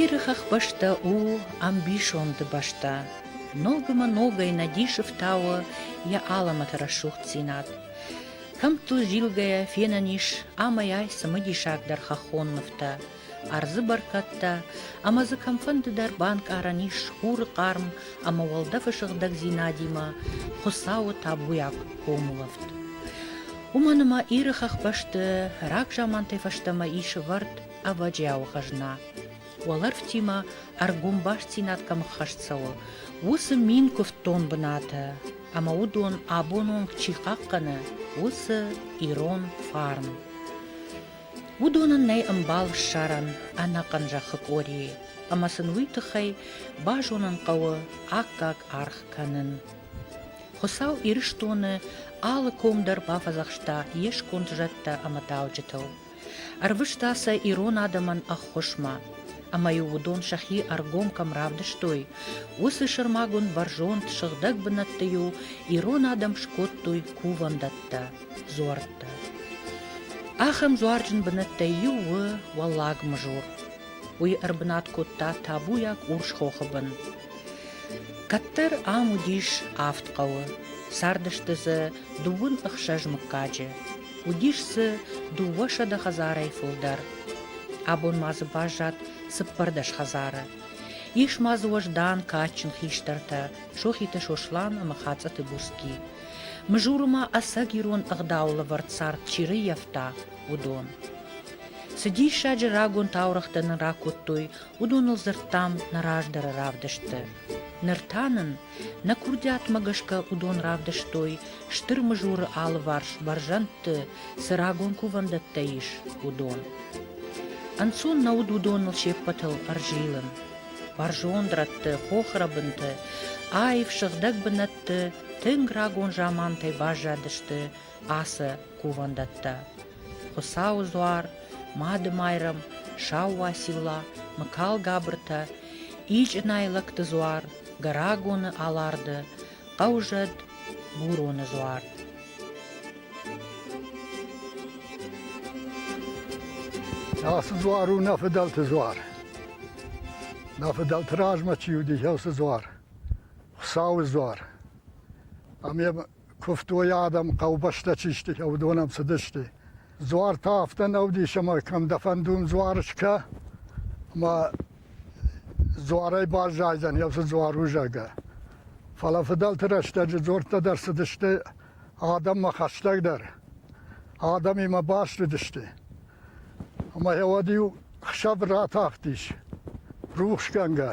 Иры хӕхбӕстӕ у ӕмбисонды бӕстӕ. Ногмӕ ногӕй надисы фтауы йӕ алӕмӕты рӕсугъддзинад. Кӕмттыл зилгӕйӕ фенӕн ис амӕй-ай цымыдисагдӕр хӕххон нывтӕ. ӕрдзы бӕркӕдтӕ ӕмӕ дзы кӕмфӕндыдӕр банкъарӕн ис хуры хъарм ӕмӕ уӕлдӕфы сыгъдӕгдзинадимӕ Хуыцауы табуйаг комулӕфт. Уымӕн ӕмӕ Иры хӕхбӕсты рагзамантӕй фӕстӕмӕ ис ӕвӕрд ӕвӕджиауы хӕзна. Уӕлӕрвтимӕ ӕргом бастдзинад кӕм ӕххӕст цӕуы, уыцы мин куывддон бынаты, ӕмӕ уыдон абон онг чи хъахъхъӕны, уыцы ирон фарн. уыдонӕн нӕй ӕмбал ссарӕн ӕнӕхъӕн зӕххы къорийы, ӕмӕ сын уый тыххӕй базонын хъӕуы аккаг аргъ кӕнын. Хуыцау Ирыстоны алы ком дӕр бафӕдзӕхста йе сконд зӕдтӕ ӕмӕ дауджытыл. Ӕрвыста сӕ ирон адӕмӕн ӕххуысмӕ, ӕмӕ-иу уыдон сӕхи ӕргом кӕм равдыстой, уыцы сӕрмагонд бӕрзонд сыгъдӕг бынӕтты-иу ирон адӕм скодтой кувӕндӕттӕ. дзуӕрттӕ. Ахӕм дзуарджын бынӕттӕй иу у Уӕллаг Мызур. Уый ӕрбынат кодта табуйаг Урсхохы бын. Кӕддӕр ам уыдис авд хъӕуы. Цардысты дзы дыууын ӕхсӕз мыггаджы. Уыдис дзы дыууӕсӕдӕ хӕдзарӕй фылдӕр. Абон ма дзы баззад цыппӕрдӕс хӕдзары. Ис ма дзы уӕздан, кадджын хистӕртӕ Сохиты Сослан ӕмӕ Хацъӕты Буцки. Мызуры ма ӕцӕг ирон ӕгъдауы лӕвӕрд цард чи рыййӕфта, уыдон. Цы диссаджы рагон таурӕгътӕ нын ракодтой, уыдоныл дзырдтам нӕ раздӕры равдыстты. Ныр та нын, нӕ курдиатмӕ гӕсгӕ уыдон равдыстой, Стыр Мызуры алыварс бӕрзӕндты цы рагон кувӕндӕттӕ ис, уыдон. Ӕнцон нӕ уыд уыдоныл се ппӕтыл ӕрзилын. Бӕрзонд рӕтты хохрӕбынты аив сыгъдӕг бынӕт ты тынг рагон замантӕй баззадысты ацы кувӕндӕттӕ: Хуыцауы дзуар, Мады-Майрӕм, Сау уацилла, Мыкалгабыртӕ, Ичъынайы лӕгты дзуар, Гӕрагоны Аларды, Хъӕузӕд, Буроны дзуар. Ацы дзуар у нӕ фыдӕлты дзуар. Нӕ фыдӕлты размӕ чи уыди, уыцы дзуар. Хуыцауы дзуар. Ам йӕ куывтой адӕм, хъӕубӕстӕ чи сты, уыдон ам цыдысты. Дзуар та афтӕ нӕ уыдис, ӕмӕ кӕм дӕ фӕндон дзуар скӕ, ӕмӕ дзуарӕй баззайдзӕн йӕ уыцы дзуарузӕгӕ. Фӕлӕ фыдӕлты рӕстӕджы дзорттӕ дӕр цыдысты адӕммӕ хӕстӕгдӕр. Адӕмимӕ баст уыдысты. Ӕмӕ йӕ уӕд иу хсӕв ратахтис рухсгӕнгӕ,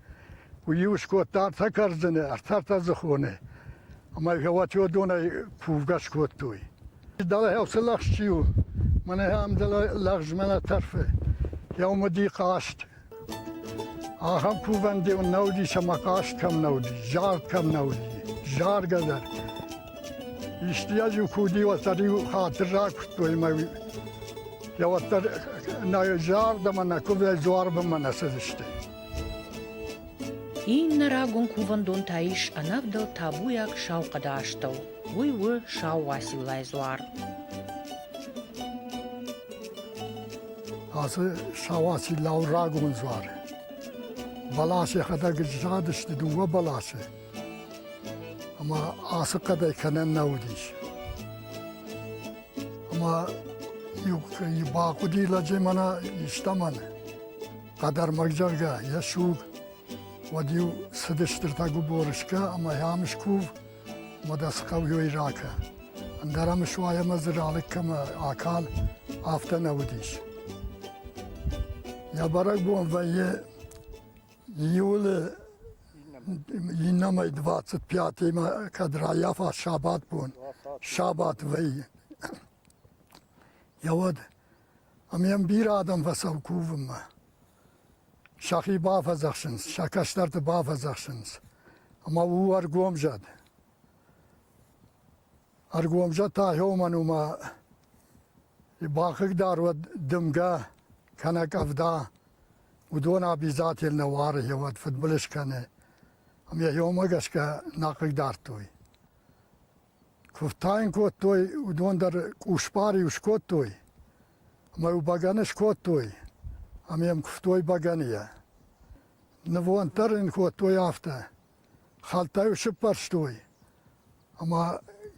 Уый-иу скодта ӕртӕ кӕрдзыны, ӕртӕртӕдзыхоны ӕмӕ гӕвӕтиодонӕй кувгӕ скодтой. Дӕлӕ цы лӕгъз чи у, мӕнӕ ам дӕлӕ лӕгъзмӕ нӕ тӕрфы, Яумади хъаст. Ахӕм кувӕн-деу нӕ уыдис ӕмӕ хъаст кӕм нӕ уыди, зард кӕм нӕ уыди, заргӕ дӕр. Истыйӕ-иу куы уыди, уӕддӕр-иу хатыр ракуырдтой ӕмӕ йӕ уӕддӕр нӕ зард ӕмӕ нӕ куывдӕй дзуарбынмӕ нӕ цыдысты. Иннӕ рагон кувӕндон та ис ӕнӕвдӕлд табуйаг сау хъӕды астӕу, уый у Сау Уациллайы дзуар. Ацы Сау Уацилла у рагон дзуар. Бӕлас йӕхӕдӕг задысты дыууӕ бӕласы. Ӕмӕ ацы хъӕдӕй кӕнӕн нӕ уыдис. Ӕмӕ иу бахъуыди лӕджы мӕнӕ истӕмӕн. хъӕдӕрмӕгзӕгъгӕ йӕ суг, уӕд-иу цыдыстыртӕ губорышкӕ ӕмӕ йӕм скув, ӕмӕ дӕ цы хъӕуйой ракӕ. Ӕндӕр ӕм суай ӕмӕ дзы ралыг кӕмӕ акал, афтӕ нӕ уыдис. Йӕ бӕрӕгбон вӕййы июлы иннӕмӕй 25-имӕ, кӕд райафа сабатбон, сабат вӕййы. Йӕ уӕд Ам йӕм бирӕ адӕм фӕцӕуы кувынмӕ. Сӕхи бафӕдзӕхсынц, сӕ кӕстӕрты бафӕдзӕхсынц. Ӕмӕ у ӕргомзӕд. Ӕргомзӕд та уымӕн у ӕмӕ бахъыгдар уӕд дымгӕ кӕнӕ къӕвда, уыдон обязатель нӕ уары йӕ уӕд фыдбылыз кӕны. Ам йӕ иумӕ гӕсгӕ нӕ хъыгдардтой. Куыд та йын кодтой, уыдон дӕр къусбар-иу скодтой ӕмӕ-иу бӕгӕны скодтой ӕмӕ йӕм куывтой бӕгӕныйӕ. Нывонд дӕр ын кодтой афтӕ: хӕлттӕ-иу сыппӕрстой ӕмӕ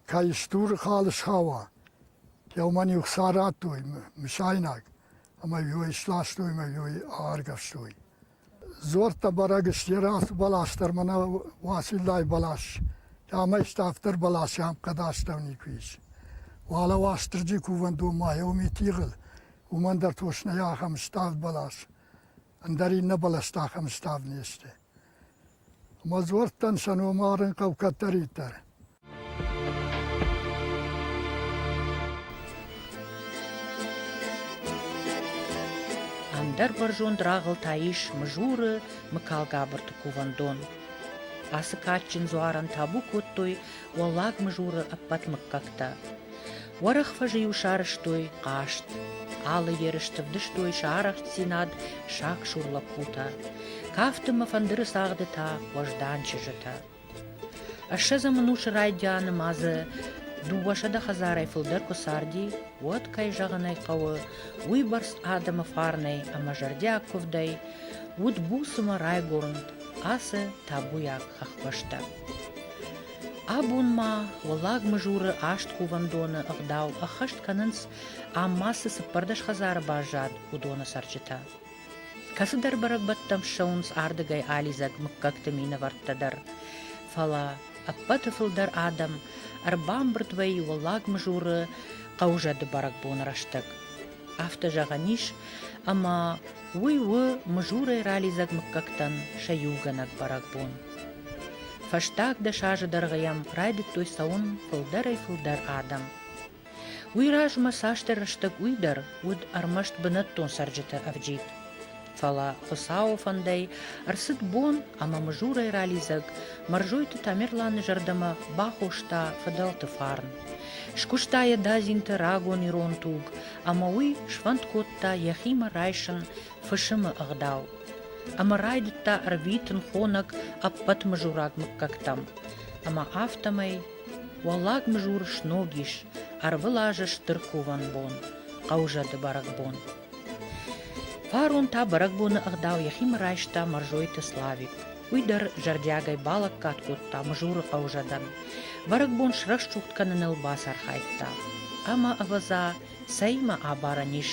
кӕй стуры хал схауа, кӕуымӕн-иу хца радтой мысайнаг ӕмӕ-иу ӕй сластой ӕмӕ-иу ӕй ааргӕвстой. Дзуӕрттӕ бӕрӕг сты, йе рацу бӕлас дӕр ма нӕ Уасиллайы бӕлас, ӕмӕ ставддӕр бӕлас йӕм хъӕд астӕу никуы ис. Уӕлӕ Уастырджи кувӕндон ма гьеуыми тигъыл, уымӕн дӕр тошнӕй ахӕм ставд бӕлас, ӕндӕр иннӕ бӕлӕстӕ ахӕм ставд не сты. Ма дзуӕрттӕн сӕ ном арын хъӕуы кӕддӕриддӕр. Ӕндӕр бӕрзонд рагъыл та ис Мызуры Мыкалгабырты кувӕндон. Ацы кадджын дзуарӕн табу кодтой Уӕллаг Мызуры ӕппӕт мыггӕгтӕ. Уӕрӕх фӕзы-иу сарӕзтой хъазт, алы ерысты вдыстой сӕ арӕхстдзинад сагсур лӕппутӕ, кафты мӕ фӕндыры цагъды та уӕздан чызджытӕ. Ӕссӕдзӕм ӕнусы райдианы ма дзы дыууӕсӕдӕ хӕдзарӕй фылдӕр куы царди, уӕд, кӕй зӕгъын ӕй хъӕуы, уыйбӕрц адӕмы фарнӕй ӕмӕ зӕрдиаг куывдӕй уыд буцмӕ райгуырнд ацы табуйаг хӕхбӕстӕ. Абонмӕ Уӕллаг Мызуры аст кувӕндоны ӕгъдау ӕххӕст кӕнынц ам ма цы цыппӕрдӕс хӕдзары баззад, уыдоны цӕрджытӕ. Кӕцыдӕр бӕрӕгбӕттӕм ссӕуынц ардыгӕй алидзӕг мыггӕгты минӕвӕрттӕ дӕр. Фӕлӕ ӕппӕты фылдӕр адӕм ӕрбамбырд вӕййы Уӕллаг Мызуры хъӕузӕды бӕрӕгбоны рӕстӕг. афтӕ зӕгъӕн ис, ӕмӕ уый у мызурӕй ралидзӕг мыггӕгтӕн сӕ иугӕнӕг бӕрӕгбон. Фӕстаг дӕс азы дӕргъы йӕм райдыдтой цӕуын фылдӕрӕй-фылдӕр адӕм. Уый размӕ цасдӕр рӕстӕг уый дӕр уыд ӕрмӕст бынӕттон цӕрджыты ӕвджид. Фӕлӕ Хуыцауы фӕндӕй ӕрцыд бон ӕмӕ мызурӕй ралидзӕг Мӕрзойты Тамерланы зӕрдӕмӕ бахоста фыдӕлты фарн. Скуыста йӕ Дадзинты рагон ирон туг ӕмӕ уый сфӕнд кодта йӕхимӕ райсын фысымы ӕгъдау. Ӕмӕ райдыдта ӕрвитын хонӕг ӕппӕт мызураг мыггӕгтӕм. Ӕмӕ афтӕмӕй Уӕллаг Мызур сног ис, ӕрвылазы стыр кувӕн бон, хъӕузӕды бӕрӕгбон. Фарон та бӕрӕгбоны ӕгъдау йӕхимӕ райста Мӕрзойты Славик. Уый дӕр зӕрдиагӕй балӕггад кодта Мызуры хъӕузӕдӕн. Бӕрӕгбон срӕсугъд кӕныныл бацархайдта. Ӕмӕ, ӕвӕдза, цӕимӕ абарӕн ис,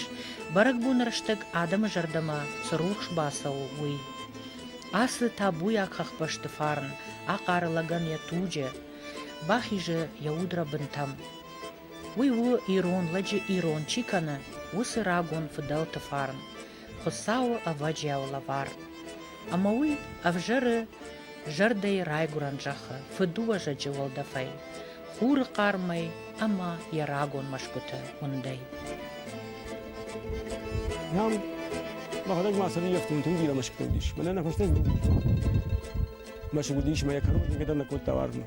бӕрӕгбоны рӕстӕг адӕмы зӕрдӕмӕ цы рухс бацӕуы, уый. Ацы табуйаг хӕхбӕсты фарн ахъары лӕгӕн йӕ туджы, бахизы йӕ удрӕ бынтӕм. Уый у ирон лӕджы ирон чи кӕны, уыцы рагон фыдӕлты фарн, Хуыцауы ӕвӕджиауы лӕвар. Ӕмӕ уый ӕвзӕры зӕрдӕйы райгуырӕн зӕххы фыдуӕзӕджы уӕлдӕфӕй, хуры хъармӕй ӕмӕ йӕ рагон мӕсгуыты уындӕй. Нӕм мӕхӕдӕг ма цӕрын ӕфтонты уыд бирӕ мӕсгуытӕ уыдис. Мӕнӕ нӕ фӕстаг бон уыд. Мӕсыг уыдис мӕ йӕ кӕрон никӕдӕр нӕ кодта уарзмӕ.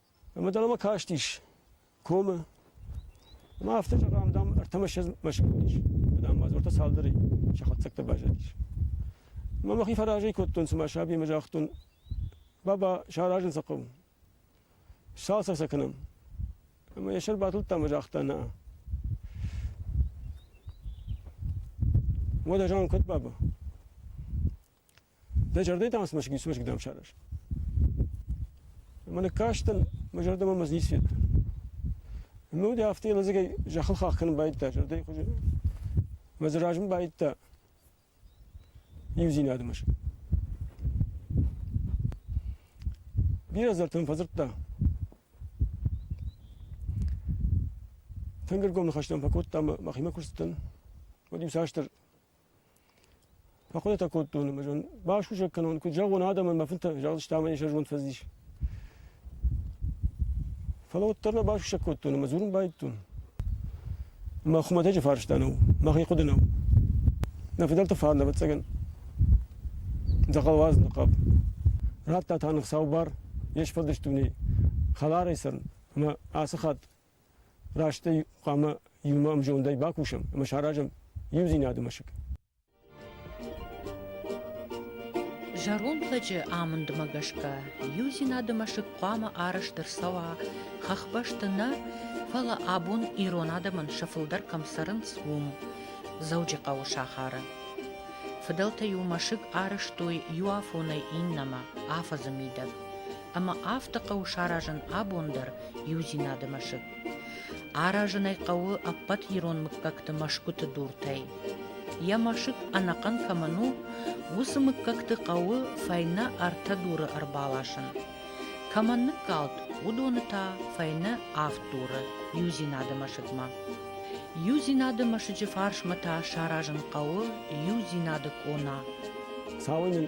Ӕмӕ дӕлӕмӕ кастис комы. Ӕмӕ афтӕ зӕгъӕм, дам, ӕртӕмӕссӕдз мӕсыг уыдис. Дам, бадзыртӕ цалдӕрӕй сӕ хатдзӕгтӕ баззадис. Ӕмӕ мӕхи фӕразӕй кодтон, цыма саби ӕмӕ загътон, баба, саразын сӕ хъӕуы. Цалцӕг сӕ кӕнӕм. Ӕмӕ йӕ сӕр батылдта ӕмӕ загъта, нӕ. Уӕд ӕз куыд, баба? Дӕ зӕрдӕйы та цы мӕсыг ницы мӕсыг дӕм сараз? Ӕмӕ ныккастӕн, мӕ зӕрдӕмӕ мӕ ницы федта. Ӕмӕ уыд афтӕ йӕ лӕдзӕгӕй зӕххыл хах кӕнын байдыдта зӕрдӕйы хуызы. Мӕ дзы рӕзын байдыдта иудзинады мӕсыг. Бирӕ азартӕ мын фӕдзырдта. Тынг ӕргом ныхӕстӕ мын фӕкодта ӕмӕ мӕхимӕ куы рцыдтӕн, уӕд иуцасдӕр Фӕхъуыдытӕ кодтон ӕмӕ зӕгъын, басусӕг кӕнон, куыд зӕгъон адӕмӕн, мӕ фынтӕ, загъдысты ӕмӕ йын сӕ зонд фӕцыдис. Фӕлӕ уӕддӕр нӕ басусӕг кодтон ӕмӕ дзурын байдыдтон. Мӕ хуымӕтӕджы фарста нӕу, мӕхи хъуыды нӕу. Нӕ фыдӕлты фӕд, ӕвӕццӕгӕн, дзӕгъӕлвӕз ныхъхъӕп. Радта та ныв сау бар, йе сфӕлдыст дунейы, хӕларӕй цӕрын, ӕмӕ ацы хатт Растӕй хъуамӕ иумӕ ӕмзондӕй бакусӕм ӕмӕ саразӕм иудзинады мӕсыг. Зӕронд лӕджы амындмӕ гӕсгӕ иудзинады мӕсыг хъуамӕ арӕзт ӕрцӕуа хӕхбӕсты нӕ, фӕлӕ абон ирон адӕмӕн сӕ фылдӕр кӕм цӕрынц, уым, Дзӕуджыхъӕуы сахары. Фыдӕлтӕ иу мӕсыг арӕзтой иу афонӕй иннӕмӕ, афӕдзы мидӕг. ӕмӕ афтӕ хъӕуы саразын абон дӕр иудзинады мӕсыг. Аразын ӕй хъӕуы ӕппӕт ирон мыггӕгты мӕсгуыты дуртӕй. Йӕ мӕсыг ӕнӕхъӕн кӕмӕн у, уыцы мыггӕгты хъӕуы фӕйнӕ ӕртӕ дуры ӕрбаласын. Кӕмӕн ныккалд, уыдоны та фӕйнӕ авд дуры иудзинады мӕсыгмӕ. Иудзинады мӕсыджы фарсмӕ та саразын хъӕуы иудзинады къона. Цауы мын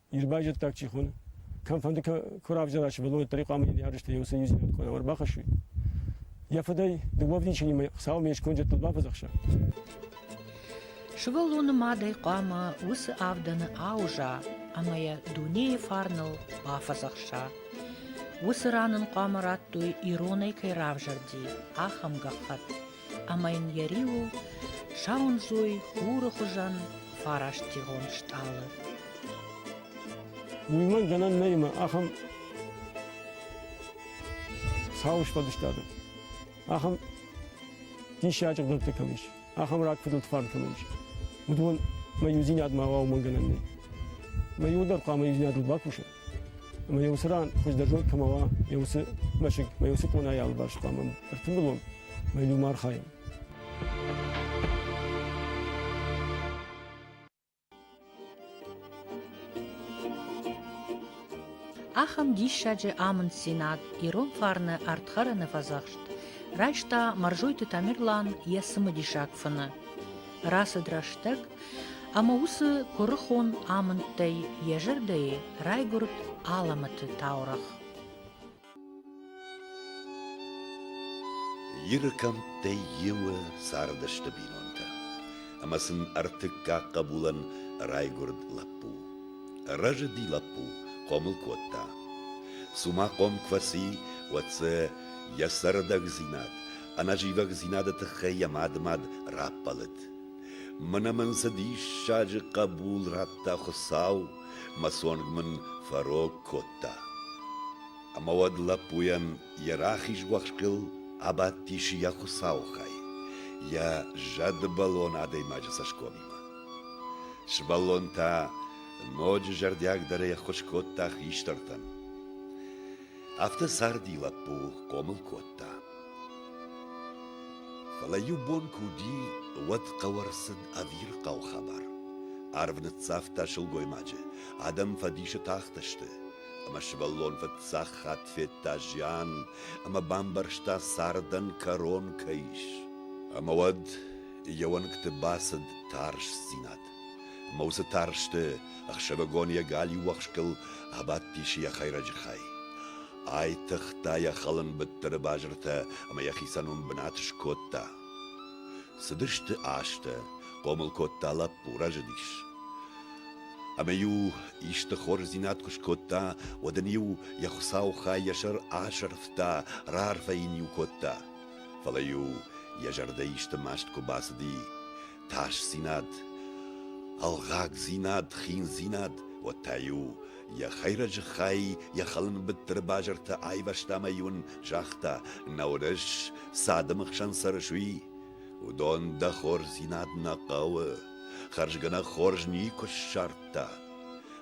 Ир байзӕддаг чи хоны, кӕмфӕнды куы равзара сывӕллон, уӕддӕр хъуамӕ йын ярыстӕ йӕ уыцы иудзинад куы ӕрбахӕссой. Йӕ фыдӕй дыууӕвдисӕнимӕ Хуыцауыл ме сконджӕттыл бафӕдзӕхса. Сывӕллоны мадӕй хъуамӕ уыцы авдӕны ауза ӕмӕ йӕ дунейы фарныл бафӕдзӕхса. Уыцы ран ын хъуамӕ радтой, иронӕй кӕй равзӕрди, ахӕм гӕххӕтт. ӕма йын йӕ риуыл сауындзой хуры хуызӕн фарастигъон стъалы. Уымӕн гӕнӕн нӕй ахӕм сау сфӕдыстады, ахӕм диссаджы гънӕгтӕ кӕм ис, ахӕм рагфыдӕлты фарн кӕм ис, уыдон мӕ иудзинадмӕ уа уымӕн гӕнӕн нӕй. Мӕ иуы дӕр хъуамӕ иудзинадыл бакуса. Ӕмӕ йӕ уыцы ран хуыздӕр зонд кӕмӕ уа, йӕ уыцы мӕсыг мӕ йӕ уыцы къонайы алыварс хъуамӕ ӕртымбылон мӕ иу ма архайӕм. Ахӕм диссаджы амынддзинад ирон фарны ӕрдхӕрыны фӕдзӕхст райста Мӕрзойты Тамерлан йӕ цымыдисаг фыны. рацыд рӕстӕг ӕмӕ уыцы куырыхон амындтӕй йӕ зӕрдӕйы райгуырд алӕмӕты таурӕгъ. Иры кӕмттӕй иуы цардысты бинонтӕ, ӕмӕ сын ӕртыккаг хъӕбулӕн райгуырд лӕппу. Рӕзыди лӕппу, хъомыл кодта. Цума хъом куы фӕци, уӕд дзы йӕ цӕрдӕгдзинад ӕнӕзивӕгдзинады тыххӕй йӕ мадымад раппӕлыд. Мӕнӕ мын цы диссаджы хъӕбул радта Хуыцау, мӕ цонг мын фӕрог кодта. Ӕмӕ уӕд лӕппуйӕн йӕ рахиз уӕхскыл абадтис йӕ Хуыцауы хай, йӕ зӕдбӕлон адӕймаджы цӕсгомимӕ. Сывӕллон та ноджы зӕрдиагдӕрӕй ӕххуыс кодта хистӕртӕн. Афтӕ царди лӕппу хъомыл кодта. Фӕлӕ иу бон куы уыди, уӕд хъӕуы ӕрцыд ӕвирхъау хабар. Арв ныццавта сылгоймаджы, адӕм фӕдисы тахтысты, ӕмӕ сывӕллон фыццаг хатт федта зиан ӕмӕ бамбӕрста, цардӕн кӕрон кӕй ис. Ӕмӕ уӕд йӕ уӕнгты бацыд тарстдзинад. Ӕмӕ уыцы тарсты ӕхсӕвыгон йӕ галиу уӕхскыл абадтис йӕ хӕйрӕджы хай. Айтыгъта йӕ хӕлын быттыры базыртӕ ӕмӕ йӕхицӕн уым бынат скодта. Цыдысты азтӕ, хъомыл кодта лӕппу, рӕзыдис. Ӕмӕ-иу исты хорздзинад куы скодта, уӕд ын-иу йӕ хуыцау хай йӕ сӕр асӕрфта, раарфӕ йын-иу кодта. Фӕлӕ-иу йӕ зӕрдӕ исты маст куы бацыди, тасдзинад, ӕлгъагдзинад, хиндзинад, уотӕ-иу йӕ хӕйрӕджы хай йӕ хӕлынбыттыры базыртӕ айвӕзта ӕмӕ-иу ын загъта, нӕ уырыс, цы адӕмы хсӕн цӕрыс, уый. Уыдон дӕ хорздзинад нӕ хъӕуы, хӕрзгӕ нӕ хорз никуы ссардта.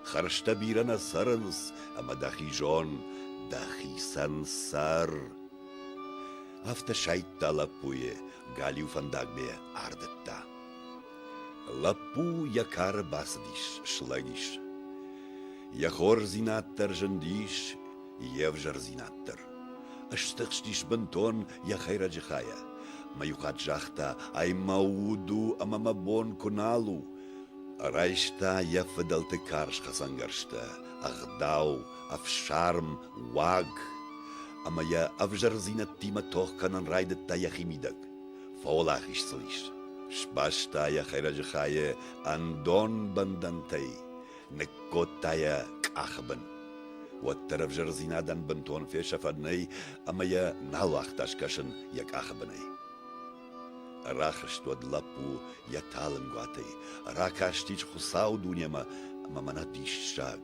Хӕрзтӕ бирӕ нӕ цӕрынц, ӕмӕ дӕхи зон, дӕхицӕн цӕр. Афтӕ сайдта лӕппуйы галиу фӕндагмӕ ардыдта. Лӕппу йӕ кары бацыдис, слӕгис. Йӕ хорздзинад дӕр зындис, йе взӕрдзинад дӕр. Стыхстис бынтон йӕ хӕйрӕджы хайӕ. Мӕ иухатт загъта, ай мӕ уд у ӕмӕ мӕ бон куы нал у. Райста йӕ фыдӕлты карз хӕцӕнгӕрзтӕ, ӕгъдау, ӕфсарм, уаг ӕмӕ йӕ ӕвзӕрдзинӕдтимӕ тох кӕнын райдыдта йӕхимидӕг. Фӕуӕлахиз сыл ис. Сбаста йӕ хӕйрӕджы хайы ӕндон бӕндӕнтӕй, ныккодта йӕ къахы бын. Уӕддӕр ӕвзӕрдзинадӕн бынтон фесӕфӕн нӕй, ӕмӕ йӕ нал уагъта скӕсын йӕ къахы бынӕй. Рахызт уӕд лӕппу йӕ талынгуатӕй, Ракастис Хуыцауы дунемӕ ӕмӕ мӕнӕ диссаг,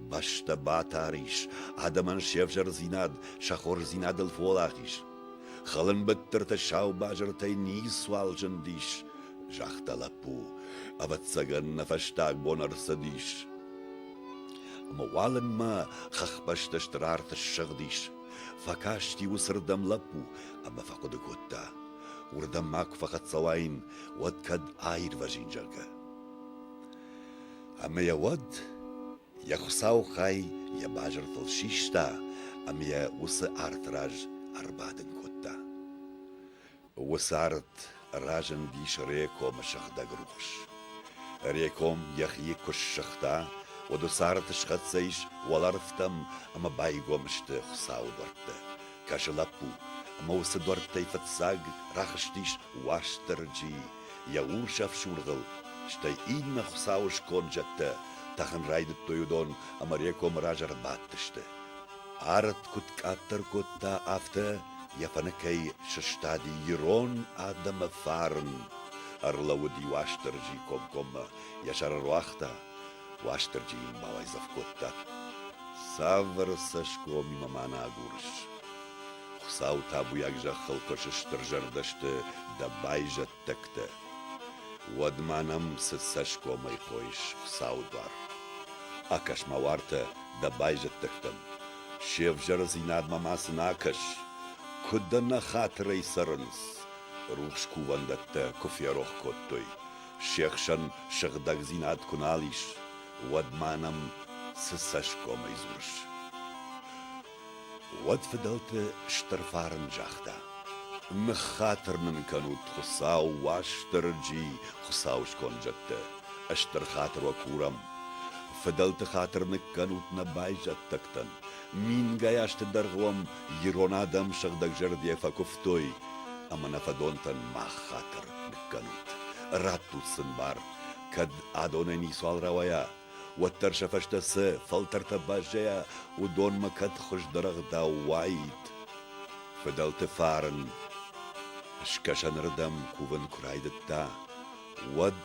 Бӕстӕ батар ис, адӕмӕн се взӕрдзинад Сӕ хорздзинадыл фолах ис. Хылынбыттырты сау базыртӕй ницуал зындис, Загъта лӕппу, ӕвӕццӕгӕн нӕ фӕстаг бон ӕрцыдис. Ӕмӕ уалынмӕ хӕхбӕсты стыр арт ссыгъдис, Фӕкасти уыцырдӕм лӕппу ӕмӕ фӕхъуыды кодта, уырдӕм ма куы фӕхӕццӕ уаин, уӕд кӕд аирвӕзин, зӕгъгӕ. Ӕмӕ йӕ уӕд йӕ хуыцау хай йӕ базыртыл систа ӕмӕ йӕ уыцы арты раз ӕрбадын кодта. Уыцы ард разындис Рекомы сыгъдӕг рухс. Реком йӕхи куы ссыгъта, уӕд уыцы арты схӕццӕ ис уӕлӕрвтӕм ӕмӕ байгом сты Хуыцауы дуӕрттӕ. Кӕсы лӕппу, ӕмӕ уыцы дуӕрттӕй фыццаг рахызтис Уастырджи йӕ урс ӕфсургъыл, стӕй иннӕ Хуыцауы сконд зӕдтӕ тӕхын райдыдтой уыдон ӕмӕ Рекомы раз ӕрбадтысты. Ард куыд къаддӕр кодта, афтӕ йӕ фӕныкӕй сыстади ирон адӕмы фарн. Ӕрлӕууыди Уастырджи комкоммӕ, йӕ сӕр ӕруагъта. Уастырджи йын бауайдзӕф кодта. Цавӕр цӕсгомимӕ ма нӕ агурыс? Хуыцау табуйаг зӕххыл куы сыстырзӕрдӕ сты дӕ байзӕд хъуыддӕгтӕ. Уӕдмӕ нӕм цы цӕсгомӕй хойыс, Хуыцауы дуар? Акӕс-ма уартӕ дӕ байзӕддӕгтӕм, се взӕрыдзинадмӕ ма сын акӕс, куыд дӕ нӕ хатырӕй цӕрынц, рухс кувӕндӕттӕ куы ферох кодтой, се хсӕн сыгъдӕгдзинад куы нал ис, уӕд ма нӕм цы цӕсгомӕй дзурыс? Уӕд фыдӕлты стыр фарн загъта: «Ныххатыр нын кӕнут, Хуыцау, Уастырджи, Хуыцауы скондзӕттӕ, стыр хатыр уӕ курӕм. Фыдӕлты хатыр ныккӕнут нӕ байзӕддӕгтӕн. Мингай азты дӕргъы уӕм ирон адӕм сыгъдӕгзӕрдӕ фӕкуывтой, ӕмӕ нӕ фӕдонтӕн мах хатыр ныккӕнут. Раттут сын бар, кӕд адонӕй ницуал рауайа, уӕддӕр сӕ фӕстӕ цы фӕлтӕртӕ баззайа, уыдонмӕ кӕд хуыздӕр ӕгъдау уаид. Фыдӕлты фарн скӕсӕнырдӕм кувын куы райдыдта, уӕд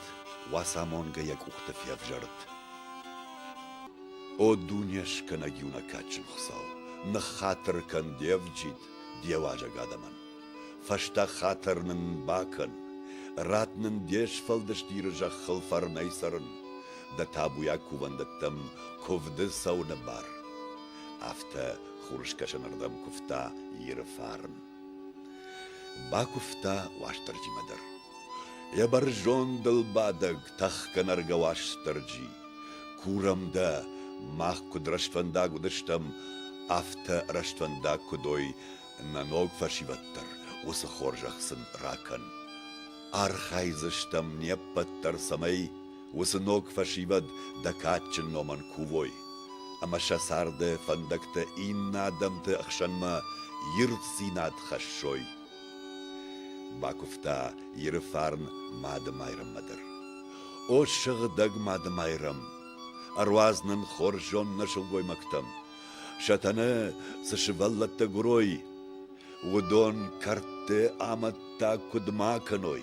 Уацамонгӕ йӕ къухты февзӕрд. О, дуне скӕнӕг иунӕг кадджын Хуыцау, ныххатыр кӕн де вджид, де уазӕг адӕмӕн! Фӕстаг хатыр нын бакӕн, Рад нын де сфӕлдыст Иры зӕххыл фӕрнӕй цӕрын, Дӕ табуйаг кувӕндӕттӕм куывды цӕуыны бар. Афтӕ хурыскӕсӕнырдӕм куывта Иры фарн. Бакуывта Уастырджимӕ дӕр. Йӕ бӕрзондыл бадӕг тӕхгӕнӕргӕ Уастырджи. Курӕм дӕ, мах куыд рӕстфӕндаг уыдыстӕм, афтӕ рӕстфӕндаг куыд ой, Нӕ ног фӕсивӕд дӕр уыцы хорзӕх сын ракӕн. Архайдзыстӕм не ппӕт дӕр, цӕмӕй уыцы ног фӕсивӕд дӕ кадджын номӕн кувой, ӕмӕ сӕ царды фӕндӕгтӕ иннӕ адӕмты ӕхсӕнмӕ ирддзинад хӕссой. Бакуывта Иры фарн Мады Майрӕммӕ дӕр. О, сыгъдӕг Мады Майрӕм! Ӕруадз нын хорзон нӕ сылгоймӕгтӕм, Сатана цы сывӕллӕттӕ гурой, уыдон кӕрдты амӕттӕ куыд ма кӕной,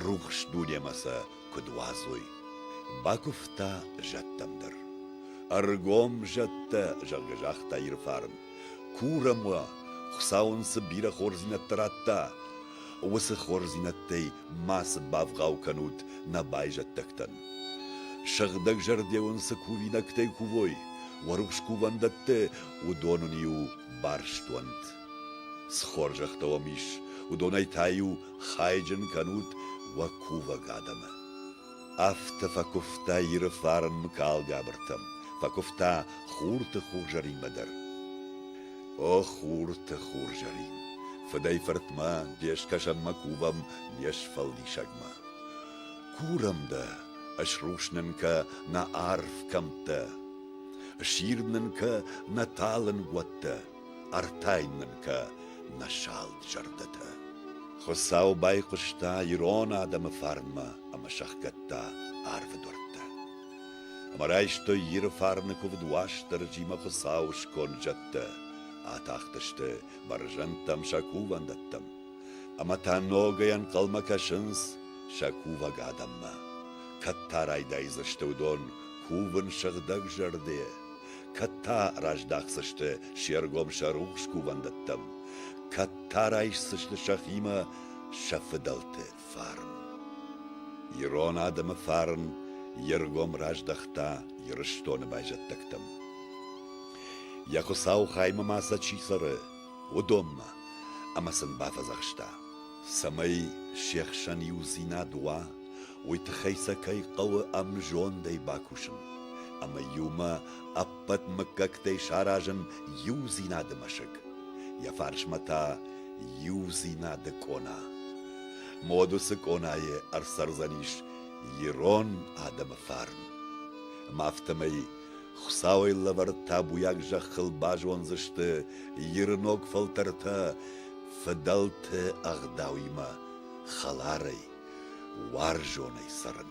рухс дунемӕ сӕ куыд уадзой. Бакуывта зӕдтӕм дӕр. Ӕргом зӕдтӕ, зӕгъгӕ, загъта Ирфарн. Курӕм уӕ, Хуыцау ын цы бирӕ хорздзинӕдтӕ радта, уыцы хорздзинӕдтӕй ма цы бавгъау кӕнут нӕ байзӕддӕгтӕн? Сыгъдӕгзӕрде уын цы кувинӕгтӕй кувой, уӕ рухс кувӕндӕтты, уыдон уын-иу барст уӕнт. Цы хорзӕхтӕ уӕм ис, уыдонӕй та-иу хайджын кӕнут уӕ кувӕг адӕмы. Афтӕ фӕкуывта Иры фарнмӕ калгӕбыртӕм, фӕкуывта хурты хурзӕринмӕ дӕр. О, хурты хурзӕрин, фыдӕй-фыртмӕ, де скӕсӕнмӕ кувӕм, не сфӕлдисӕгмӕ. Курӕм дӕ, ысрус нын кӕ нӕ арв кӕмттӕ, Ысирд нын кӕ нӕ талын уӕттӕ. Ӕртӕйн мын кӕ нӕ салд зӕрдӕтӕ. Хуыцау байхъуыста ирон адӕмы фарнмӕ ӕмӕ сӕхгӕдта арвы дуӕрттӕ. Ӕмӕ райстой Иры фарны куывд Уастырджимӕ Хуыцауы сконд зӕдтӕ. Атахтысты бӕрзӕндтӕм сӕ кувӕндӕттӕм. Ӕмӕ та ногӕй ӕнхъӕлмӕ кӕсынц сӕ кувӕг адӕммӕ. Кӕд та райдайдзысты уыдон кувын сыгъдӕг зӕрдӕйӕ. кӕд та раздахдзысты се ргом сӕ рухс кувӕндӕттӕм, кӕд та райсдзысты сӕхимӕ сӕ фыдӕлты фарн. Ирон адӕмы фарн йе ргом раздӕхта Ирыстоны байзӕддӕгтӕм. Йӕ хуыцау хаймӕ ма сӕ чи цӕры, уыдонмӕ, ӕмӕ сын бафӕдзӕхста: Цӕмӕй се хсӕн иудзинад уа, уый тыххӕй сӕ кӕй хъӕуы ӕмзондӕй бакусын ӕмӕ иумӕ ӕппӕт мыггӕгтӕй саразын иудзинады мӕсыг. Йӕ фарсмӕ та иудзинады къона. Модусы къонайы ӕрцӕрдзӕнис ирон адӕмы фарн. Ӕмӕ афтӕмӕй Хуыцауӕй лӕвӕрд табуйаг зӕххыл базондзысты Ирыног фӕлтӕртӕ фыдӕлты ӕгъдауимӕ, хӕларӕй, уарзонӕй цӕрын.